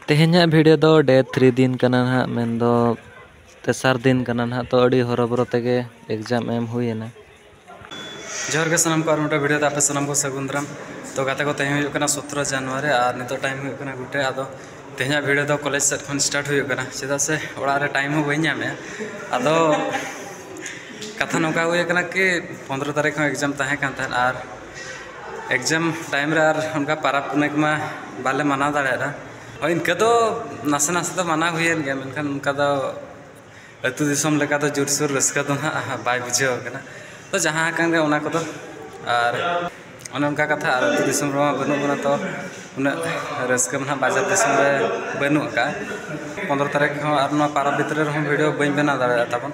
ᱛᱮᱦᱮᱧᱟᱜ ᱵᱷᱤᱰᱤᱭᱳ ᱫᱚ ᱰᱮ ᱛᱷᱨᱤ ᱫᱤᱱ ᱠᱟᱱᱟ ᱱᱟᱦᱟᱜ ᱢᱮᱱᱫᱚ ᱛᱮᱥᱟᱨ ᱫᱤᱱ ᱠᱟᱱᱟ ᱱᱟᱦᱟᱜ ᱛᱚ ᱟᱹᱰᱤ ᱦᱚᱨᱚᱵᱚᱨᱚ ᱛᱮᱜᱮ ᱮᱠᱡᱟᱢ ᱮᱢ ᱦᱩᱭᱮᱱᱟ ᱡᱚᱦᱟᱨ ᱜᱮ ᱥᱟᱱᱟᱢ ᱠᱚ ᱟᱨ ᱢᱤᱫᱴᱟᱝ ᱵᱷᱤᱰᱤᱭᱳ ᱛᱮ ᱟᱯᱮ ᱥᱟᱱᱟᱢ ᱠᱚ ᱥᱟᱹᱜᱩᱱ ᱫᱟᱨᱟᱢ ᱛᱚ ᱜᱟᱛᱮ ᱠᱚ ᱛᱮᱦᱮᱧ ᱦᱩᱭᱩᱜ ᱠᱟᱱᱟ ᱥᱚᱛᱨᱚ ᱡᱟᱱᱩᱣᱟᱨᱤ ᱟᱨ ᱱᱤᱛᱚᱜ ᱴᱟᱭᱤᱢ ᱦᱩᱭᱩᱜ ᱠᱟᱱᱟ ᱜᱩᱴᱮ ᱟᱫᱚ ᱛᱮᱦᱮᱧᱟᱜ ᱵᱷᱤᱰᱤᱭᱳ ᱫᱚ ᱠᱚᱞᱮᱡᱽ ᱥᱮᱫ ᱠᱷᱚᱱ ᱥᱴᱟᱨᱴ ᱦᱩᱭᱩᱜ ᱠᱟᱱᱟ ᱪᱮᱫᱟᱜ ᱥᱮ ᱚᱲᱟᱜ ᱨᱮ ᱴᱟᱭᱤᱢ ᱦᱚᱸ ᱵᱟᱹᱧ ᱧᱟᱢᱮᱜᱼᱟ ᱟᱫᱚ ᱠᱟᱛᱷᱟ ᱱᱚᱝᱠᱟ ᱦᱩᱭ ᱠᱟᱱᱟ ᱠᱤ ᱯᱚᱸᱫᱽᱨᱚ ᱛᱟᱹᱨᱤᱠᱷ ᱦᱚᱸ ᱮᱠᱡᱟᱢ ᱛᱟᱦᱮᱸ ᱠᱟᱱ ᱛᱟᱦᱮᱸᱫ ᱟᱨ ᱮᱠᱡᱟᱢ ᱴᱟᱭᱤᱢ ᱨᱮ ᱟᱨ ᱚᱱᱠᱟ ᱯᱟᱨᱟᱵᱽ ᱯᱩᱱᱟᱹᱭ ᱠᱚᱢᱟ ᱵᱟᱞᱮ ᱢᱟᱱᱟᱣ ᱫᱟᱲᱮᱭᱟᱫᱟ ᱦᱳᱭ ᱤᱱᱠᱟᱹ ᱫᱚ ᱱᱟᱥᱮ ᱱᱟᱥᱮ ᱫᱚ ᱢᱟᱱᱟᱣ ᱦᱩᱭᱮᱱ ᱜᱮᱭᱟ ᱢᱮᱱᱠᱷᱟᱱ ᱚᱱᱠᱟ ᱫᱚ ᱟᱹᱛᱩ ᱫᱤᱥᱚᱢ ᱞᱮᱠᱟ ᱫᱚ ᱡᱳᱨᱥᱳᱨ ᱨᱟᱹᱥᱠᱟᱹ ᱫᱚ ᱦᱟᱸᱜ ᱵᱟᱭ ᱵᱩᱡᱷᱟᱹᱣ ᱠᱟᱱᱟ ᱛᱚ ᱡᱟᱦᱟᱸ ᱟᱠᱟᱱ ᱜᱮ ᱚᱱᱟ ᱠᱚᱫᱚ ᱟᱨ ᱚᱱᱮ ᱚᱱᱠᱟ ᱠᱟᱛᱷᱟ ᱟᱨ ᱟᱹᱛᱩ ᱫᱤᱥᱚᱢ ᱨᱮᱢᱟ ᱵᱟᱹᱱᱩᱜ ᱵᱚᱱᱟ ᱛᱚ ᱩᱱᱟᱹᱜ ᱨᱟᱹᱥᱠᱟᱹ ᱢᱟ ᱦᱟᱸᱜ ᱵᱟᱡᱟᱨ ᱫᱤᱥᱚᱢ ᱨᱮ ᱵᱟᱹᱱᱩᱜ ᱠᱟᱜᱼᱟ ᱯᱚᱸᱫᱽᱨᱚ ᱛᱟᱹᱨᱤᱠᱷ ᱦᱚᱸ ᱟᱨ ᱱᱚᱣᱟ ᱯᱟᱨᱟᱵᱽ ᱵᱷᱤᱛᱨᱤ ᱨᱮᱦᱚᱸ ᱵᱷᱤᱰᱭᱳ ᱵᱟᱹᱧ ᱵᱮᱱᱟᱣ ᱫᱟᱲᱮᱭᱟᱜ ᱛᱟᱵᱚᱱ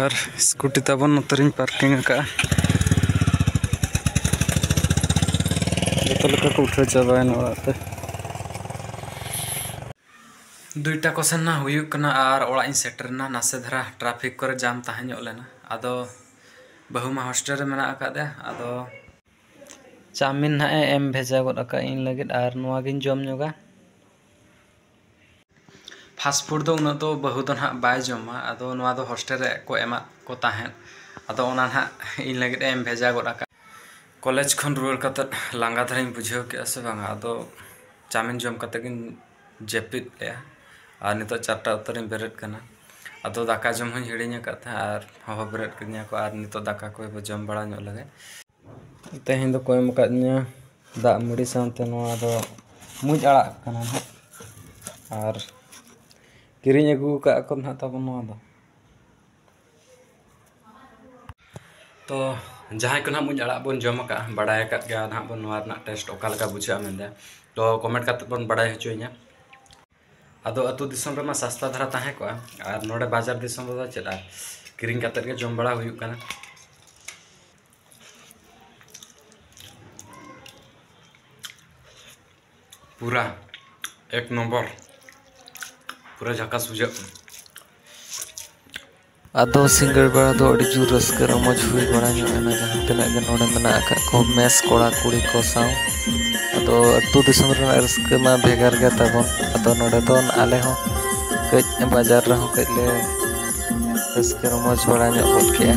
ᱟᱨ ᱥᱠᱩᱴᱤ ᱛᱟᱵᱚᱱ ᱱᱚᱛᱮ ᱨᱤᱧ ᱯᱟᱨᱠᱤᱝ ᱟᱠᱟᱫᱼᱟ ᱡᱚᱛᱚ ᱞᱮᱠᱟ ᱠᱚ ᱩᱴᱷᱟᱹᱣ ᱪᱟᱵᱟᱭᱮᱱᱟ ᱚᱲᱟᱜ ᱛᱮ ᱫᱩᱭᱴᱟ ᱠᱚ ᱥᱮᱱ ᱱᱟ ᱦᱩᱭᱩᱜ ᱠᱟᱱᱟ ᱟᱨ ᱚᱲᱟᱜ ᱤᱧ ᱥᱮᱴᱮᱨᱱᱟ ᱱᱟᱥᱮ ᱫᱷᱟᱨᱟ ᱴᱨᱟᱯᱷᱤᱠ ᱠᱚᱨᱮ ᱡᱟᱢ ᱛᱟᱦᱮᱸ ᱧᱚᱜ ᱞᱮᱱᱟ ᱟᱫᱚ ᱵᱟᱹᱦᱩ ᱢᱟ ᱦᱳᱥᱴᱮᱞ ᱨᱮ ᱢᱮᱱᱟᱜ ᱟᱠᱟᱫᱮᱭᱟ ᱟᱫᱚ ᱪᱟᱣᱢᱤᱱ ᱱᱟᱦᱟᱜ ᱮ ᱮᱢ ᱵᱷᱮᱡᱟ ᱜᱚᱫ ᱟᱠᱟᱫ ᱤᱧ ᱞᱟᱹᱜᱤᱫ ᱟᱨ ᱱᱚᱣᱟ ᱜᱤᱧ ᱡᱚᱢ ᱧᱚᱜᱟ ᱯᱷᱟᱥᱴ ᱯᱷᱩᱰ ᱫᱚ ᱩᱱᱟᱹᱜ ᱫᱚ ᱵᱟᱹᱦᱩ ᱫᱚ ᱱᱟᱦᱟᱜ ᱵᱟᱭ ᱡᱚᱢᱟ ᱟᱫᱚ ᱱᱚᱣᱟ ᱫᱚ ᱦᱳᱥᱴᱮᱞ ᱨᱮ ᱠᱚ ᱮᱢᱟᱫ ᱠᱚ ᱛᱟᱦᱮᱸᱫ ᱟᱫᱚ ᱚᱱᱟ ᱱᱟᱦᱟᱜ ᱤᱧ ᱞᱟᱹᱜᱤᱫ ᱮᱢ ᱵᱷᱮᱡᱟ ᱜᱚᱫ ᱟᱠᱟᱫ ᱠᱚᱞᱮᱡᱽ ᱠᱷᱚᱱ ᱨᱩᱣᱟᱹᱲ ᱠᱟᱛᱮ ᱞᱟᱸᱜᱟ ᱫᱷᱟᱨᱟᱧ ᱵᱩᱡᱷᱟᱹᱣ ᱠᱮᱫᱼᱟ ᱥᱮ ᱵᱟᱝᱟ ᱟᱫᱚ ᱪᱟᱣᱢᱤᱱ ᱡᱚᱢ ᱠᱟᱛᱮ ᱜᱤᱧ ᱡᱟᱹᱯᱤᱫ ᱞᱮᱫᱼᱟ ᱟᱨ ᱱᱤᱛᱚᱜ ᱪᱟᱨᱴᱟ ᱚᱠᱛᱚ ᱨᱤᱧ ᱵᱮᱨᱮᱫ ᱠᱟᱱᱟ ᱟᱫᱚ ᱫᱟᱠᱟ ᱡᱚᱢ ᱦᱚᱸᱧ ᱦᱤᱲᱤᱧ ᱟᱠᱟᱫ ᱛᱟᱦᱮᱸᱫ ᱟᱨ ᱦᱚᱦᱚ ᱵᱮᱨᱮᱫ ᱠᱤᱫᱤᱧᱟ ᱠᱚ ᱟᱨ ᱱᱤᱛᱚᱜ ᱫᱟᱠᱟ ᱠᱚ ᱡᱚᱢ ᱵᱟᱲᱟ ᱧᱚᱜ ᱞᱮᱜᱮ ᱛᱮᱦᱮᱧ ᱫᱚᱠᱚ ᱮᱢ ᱠᱟᱫᱤᱧᱟᱹ ᱫᱟᱜ ᱢᱟᱹᱰᱤ ᱥᱟᱶᱛᱮ ᱱᱚᱣᱟ ᱫᱚ ᱢᱩᱸᱡ ᱟᱲᱟᱜ ᱠᱟᱱᱟ ᱦᱟᱸᱜ ᱟᱨ ᱠᱤᱨᱤᱧ ᱟᱹᱜᱩ ᱠᱟᱜ ᱟᱠᱚ ᱦᱟᱸᱜ ᱛᱟᱵᱚᱱ ᱱᱚᱣᱟ ᱫᱚ ᱛᱚ ᱡᱟᱦᱟᱸᱭ ᱠᱚ ᱱᱟᱦᱟᱜ ᱢᱩᱸᱡ ᱟᱲᱟᱜ ᱵᱚᱱ ᱡᱚᱢ ᱟᱠᱟᱫᱼᱟ ᱵᱟᱲᱟᱭ ᱟᱠᱟᱫ ᱜᱮᱭᱟ ᱱᱟᱦᱟᱜ ᱵᱚᱱ ᱱᱚᱣᱟ ᱨᱮᱱᱟᱜ ᱴᱮᱥᱴ ᱚᱠᱟ ᱞᱮᱠᱟ ᱵᱩᱡᱷᱟᱹᱜᱼᱟ ᱢᱮᱱᱛᱮ ᱛᱚ ᱠᱚᱢᱮᱱᱴ ᱠᱟᱛᱮᱫ ᱵᱚᱱ ᱵᱟᱲᱟᱭ ᱦᱚᱪᱚᱭᱤᱧᱟᱹ ᱟᱫᱚ ᱟᱹᱛᱩ ᱫᱤᱥᱚᱢ ᱨᱮᱢᱟ ᱥᱟᱥᱛᱟ ᱫᱷᱟᱨᱟ ᱛᱟᱦᱮᱸ ᱠᱚᱜᱼᱟ ᱟᱨ ᱱᱚᱰᱮ ᱵᱟᱡᱟᱨ ᱫᱤᱥᱚᱢ ᱨᱮᱫᱚ ᱪᱮᱫ ᱟᱨ ᱠᱤᱨᱤᱧ ᱠᱟᱛᱮᱫ ᱜᱮ ᱡᱚᱢ ᱵᱟᱲᱟ ᱦᱩᱭᱩᱜ ᱠᱟᱱᱟ ᱯᱩᱨᱟ ᱮᱠ ᱱᱚᱢᱵᱚᱨ ᱯᱩᱨᱟᱹ ᱡᱷᱟᱠᱟᱥ ᱵᱩᱡᱷᱟᱹᱜ ᱠᱟᱱᱟ ᱟᱫᱚ ᱥᱤᱸᱜᱟᱹᱲ ᱵᱮᱲᱟ ᱫᱚ ᱟᱹᱰᱤ ᱡᱳᱨ ᱨᱟᱹᱥᱠᱟᱹ ᱨᱚᱢᱚᱡᱽ ᱦᱩᱭ ᱵᱟᱲᱟ ᱧᱚᱜ ᱮᱱᱟ ᱡᱟᱦᱟᱸ ᱛᱤᱱᱟᱹᱜ ᱜᱮ ᱱᱚᱰᱮ ᱢᱮᱱᱟᱜ ᱟᱠᱟᱫ ᱠᱚ ᱢᱮᱥ ᱠᱚᱲᱟ ᱠᱩᱲᱤ ᱠᱚ ᱥᱟᱶ ᱟᱫᱚ ᱟᱛᱳ ᱫᱤᱥᱚᱢ ᱨᱮᱱᱟᱜ ᱨᱟᱹᱥᱠᱟᱹ ᱢᱟ ᱵᱷᱮᱜᱟᱨ ᱜᱮ ᱛᱟᱵᱚᱱ ᱟᱫᱚ ᱱᱚᱰᱮ ᱫᱚ ᱟᱞᱮ ᱦᱚᱸ ᱠᱟᱹᱡ ᱵᱟᱡᱟᱨ ᱨᱮᱦᱚᱸ ᱠᱟᱹᱡ ᱞᱮ ᱨᱟᱹᱥᱠᱟᱹ ᱨᱚᱢᱚᱡᱽ ᱵᱟᱲᱟ ᱧᱚᱜ ᱜᱚᱫ ᱠᱮᱜᱼᱟ